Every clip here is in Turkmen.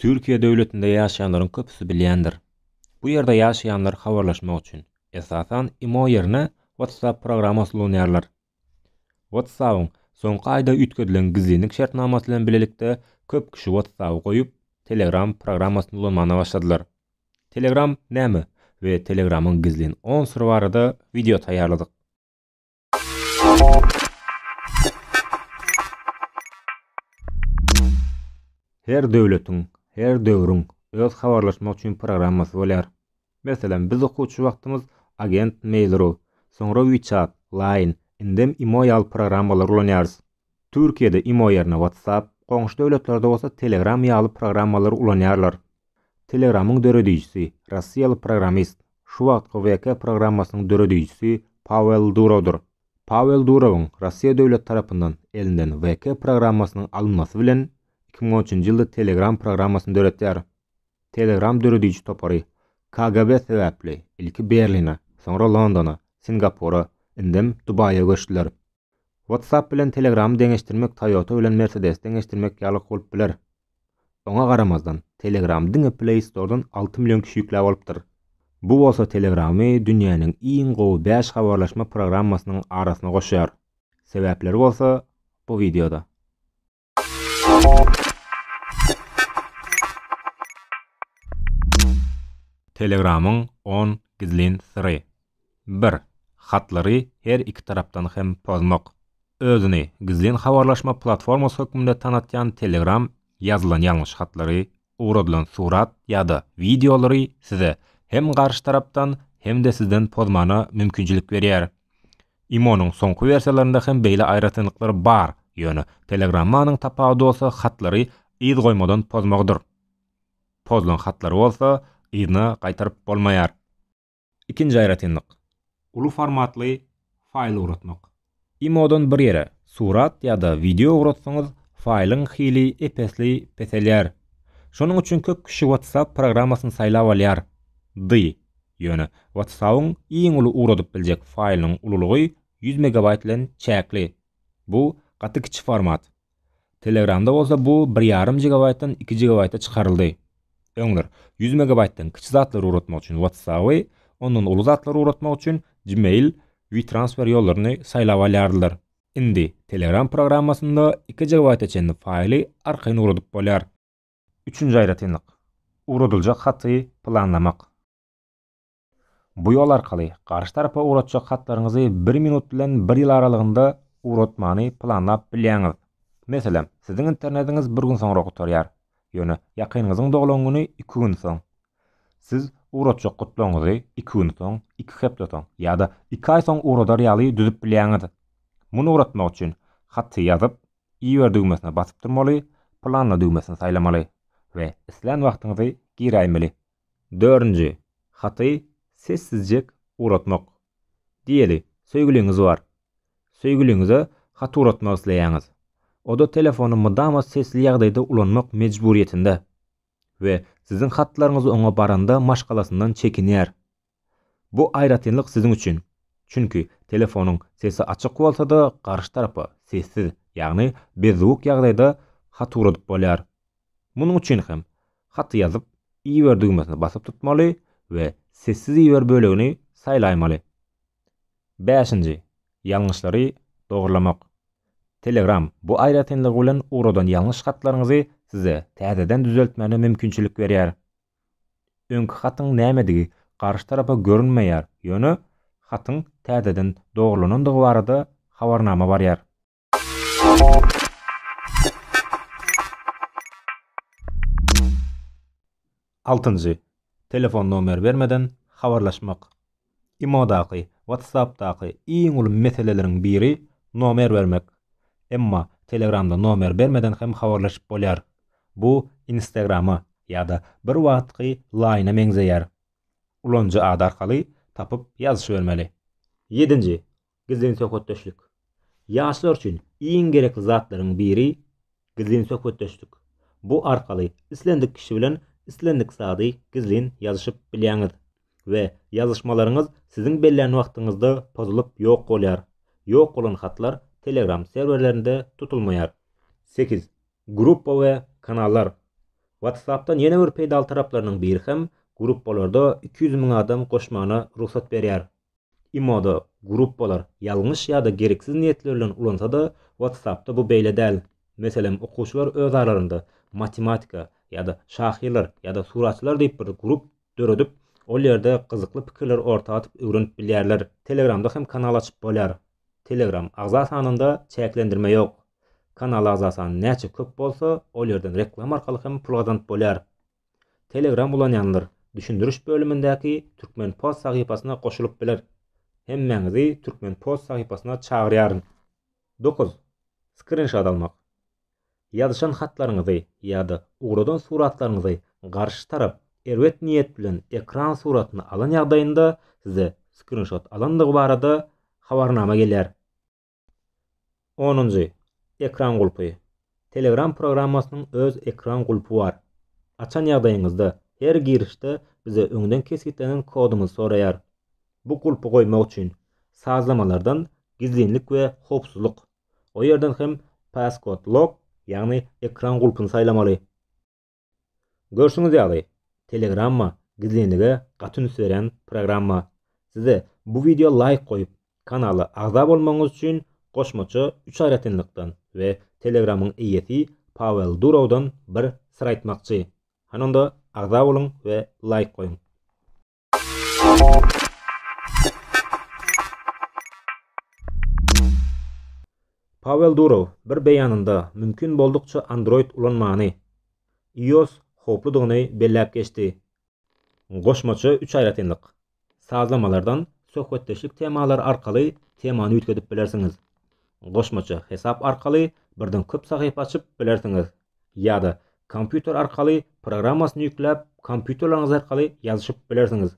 Türkiýe döwletinde ýaşaýanlaryň köpüsi bilýändir. Bu ýerde ýaşaýanlar habarlaşmak üçin, esasan, imo ýerine WhatsApp programmasy ulanýarlar. WhatsApp-yň soňky aýda üýtgedilen gizlinlik şertnamasy bilen bilelikde köp kişi WhatsApp-y goýup, Telegram programmasyny ulanmana başladylar. Telegram näme we Telegramyň gizlin on syry barada wideo taýýarladyk. Her döwletiň, her döwrüň öz habarlaşmak üçin programmasy bolýar. Meselem, biz okuwçy wagtymyz Agent Mail.ru, soňra WeChat, Line, indem Imo ýaly programmalary ulanýarys. Türkiýede imo ýerine WhatsApp, goňşy döwletlerde bolsa Telegram ýaly programmalary ulanýarlar. Telegramyň döredijisi, rossiýaly programmist, şu wagtky VK programmasynyň döredijisi Pawel Durowdyr. Pawel Durowyň Rossiýa döwleti tarapyndan elinden VK programmasynyň alynmasy bilen iki müň on üçünji ýylda Telegram programmasyny döretýär. Telegram dörediji topary KGB sebäpli ilki Berline, soňra Londona, Singapura, indem Dubaýa göçdüler. WhatsApp bilen Telegram-y deňeşdirmek Toyota bilen Mercedes-i deňeşdirmek ýalyk bolup biler. Oňa garamazdan, Telegram-y diňe Play Store-dan alty million kişi ýükläp alypdyr. Bu bolsa Telegram-y dünýäniň iň gowy bäş habarlaşma programmasynyň arasyna goşýar. Sebäpleri bolsa bu wideoda. Telegramyň on gizlin syry. Bir. Hatlary her iki tarapdan hem pozmak. Özüni gizlin habarlaşma platformasy hökmünde tanatýan Telegram ýazylan ýalňyş hatlary Ugradylan surat ýa-da wideolary size hem garşy tarapdan, hem-de sizden pozmana mümkinçilik berýär. Imonyň soňky wersiýalarynda hem beýle aýratynlyklar bar, ýöne Telegrammanyň tapawudy bolsa hatlary yz goýmadan pozmagydyr. Pozulan hatlary bolsa yzyna gaýtaryp bolmaýar. Ikinji aýratynlyk, uly formatly faýl ugratmak. Imodan bir ýere surat ýa-da wideo ugratsaňyz, faýlyň hili ep-esli peselýär. Şonuň üçin köp kişi WhatsApp programmasyny saýlap alýar. Dy. Ýöne WhatsApp-yň iň uly ugradyp biljek faýlynyň ululygy ýüz megabaýt bilen çäkli. Bu gaty kiçi format. Telegramda bolsa bu bir ýarym gigabaýtdan iki gigabaýta çykaryldy. Öňler, ýüz megabaýtdan kiçi zatlary ugratmak üçin WhatsApp-y, ondan uly zatlary ugratmak üçin Gmail, WeTransfer ýollaryny saýlap alýardylar. Indi Telegram programmasynda iki gigabaýta çenli faýly arkaýyn ugradyp bolýar. Üçünji aýratynlyk, ugradyljak haty planlamak. Bu ýol arkaly garşy tarapa ugratjak hatlaryňyzy bir minut bilen bir ýyl aralygynda ugratmany planlap bilýäňiz. Meselem, siziň internetiňiz bir gün soňra gutarýar, ýöne ýakynyňyzyň doglan güni iki gün soň. Siz ugratjak gutlagyňyzy iki gün soň, iki hepde soň ýa-da iki aý soň ugradar ýaly düzüp bilýäňiz. Muny ugratmak üçin haty ýazyp, Iber düwmesine basyp durmaly, Planla düwmesini saýlamaly we islän wagtyňyzy giräýmeli. Dördünji, haty sessizjek ugratmak. Diýeli, söýgüliňiz bar. Söýgüliňize hat ugratmak isleýäňiz. O-da telefony mydama sesli ýagdaýda ulanmak mejburyýetinde we siziň hatlaryňyz oňa baranda maşgalasyndan çekinýär. Bu aýratynlyk siziň üçin, çünki telefonyň sesi açyk bolsa-da garşy tarapa sessiz, ýagny bezzowuk ýagdaýda hat ugradyp bolýar. Munuň üçin hem haty ýazyp iber düwmesine basyp tutmaly we sessiz iber bölegini saýlaýmaly. Bäşinji, ýalňyşlary dogurlamak. Telegram bu aýratynlygy bilen ugradan ýalňyş hatlaryňyzy size täzeden düzeltmäne mümkinçilik berýär. Öňki hatyň nämedigi garşy tarapa görünmeýär, ýöne hatyň täzeden dogrulanandygy barada habarnama barýar. Altynjy, telefon nomeri bermeden habarlaşmak. Imodaky, WhatsAppdaky iň uly meseleleriň biri nomer bermek. Emma Telegramda nomer bermeden hem habarlaşyp bolýar. Bu Instagrama ýa-da bir wagtky Line-a meňzeýär. Ulanyjy ady arkaly tapyp ýazyşybermeli. Ýedinji, Gizlin söhbetdeşlik. Ýaşlar üçin iň gerekli zatlaryň biri gizlin söhbetdeşlik. Bu arkaly islendik kişi bilen islendik zady gizlin ýazyşyp bilýäňiz we ýazyşmalaryňyz siziň bellän wagtyňyzda pozulyp ýok bolýar. Ýok bolan hatlar Telegram serwerlerinde tutulmaýar. Sekiz. Gruppa we kanallar. WhatsApp-dan ýene bir peýdaly taraplarynyň biri hem gruppalarda iki ýüz müň adam goşmana rugsat berýär. Imoda gruppalar ýalňyş ýa-da gereksiz niýetler bilen ulansa-da, WhatsApp-da bu beýle däl. Meselem, okuwçylar öz aralarynda matematika ýa-da şahyrlar ýa-da suratçylar diýip bir grup döredip, ol ýerde gyzykly pikirleri orta atyp öwrenip bilýärler. Telegramda hem kanal açyp bolýar. Telegram agza sanynda çäklendirme ýok. Kanal agza sany näçe köp bolsa, ol ýerden reklama arkaly hem pul gazanyp bolýar. Telegram ulanýanlar düşündiriş bölümindäki Turkmenpost sahypasyna goşulyp biler. Hemmäňizi Turkmenpost sahypasyna çagyrýaryn. Dokuz. Skrinşot almak. Ýazyşan hatlaryňyzy ýa-da ugradan suratlaryňyzy garşy tarap erbet niýet bilen ekran suratyny alan ýagdaýynda size skrinşot alandygy barada habarnama gelýär. Onunjy, ekran gulpy. Telegram programmasynyň öz ekran gulpy bar. Açan ýagdaýyňyzda, her girişde bize öňden kesgitlenen koduňyzy soraýar. Bu gulpy goýmak üçin, sazlamalardan Gizlinlik we howpsuzlyk, o ýerden hem Passcode Lock, ýagny ekran gulpuny saýlamaly. Görşüňiz ýaly, Telegramma gizlinlige gaty üns berýän programma. Size bu wideo laýk goýup, kanala agza bolmagyňyz üçin goşmaça üç aýratynlykdan we Telegramyň eýesi Pawel Durowdan bir syr aýtmakçy. Hany onda agza boluň we laýk goýuň. Pawel Durow bir beýanynda mümkin boldukça Android ulanmany, iOS howpludygyny belläp geçdi. Goşmaça üç aýratynlyk, sazlamalardan söhbetdeşlik temalary arkaly temany üýtgedip bilersiňiz. Goşmaça hesap arkaly birden köp sahypa açyp bilersiňiz. ýa-da kompýuter arkaly programmasyny ýükläp, kompýuterleriňiz arkaly ýazyşyp bilersiňiz.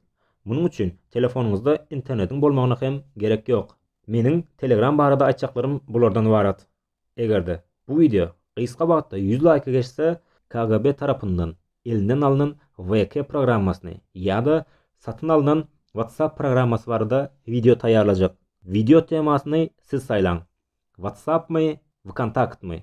Munuň üçin telefonyňyzda internetiň bolmagyna hem gerek ýok. Meniň Telegram barada aýtjaklarym bulardan ybarat. Eger-de bu wideo gysga wagtda ýüz laýka geçse, KGB tarapyndan elinden alnan VK programmasyny ýa-da satyn alnan WhatsApp programmasy barada wideo taýýarlajak. Wideo temasyny siz saýlaň. WhatsAppmy, Vkontaktmy?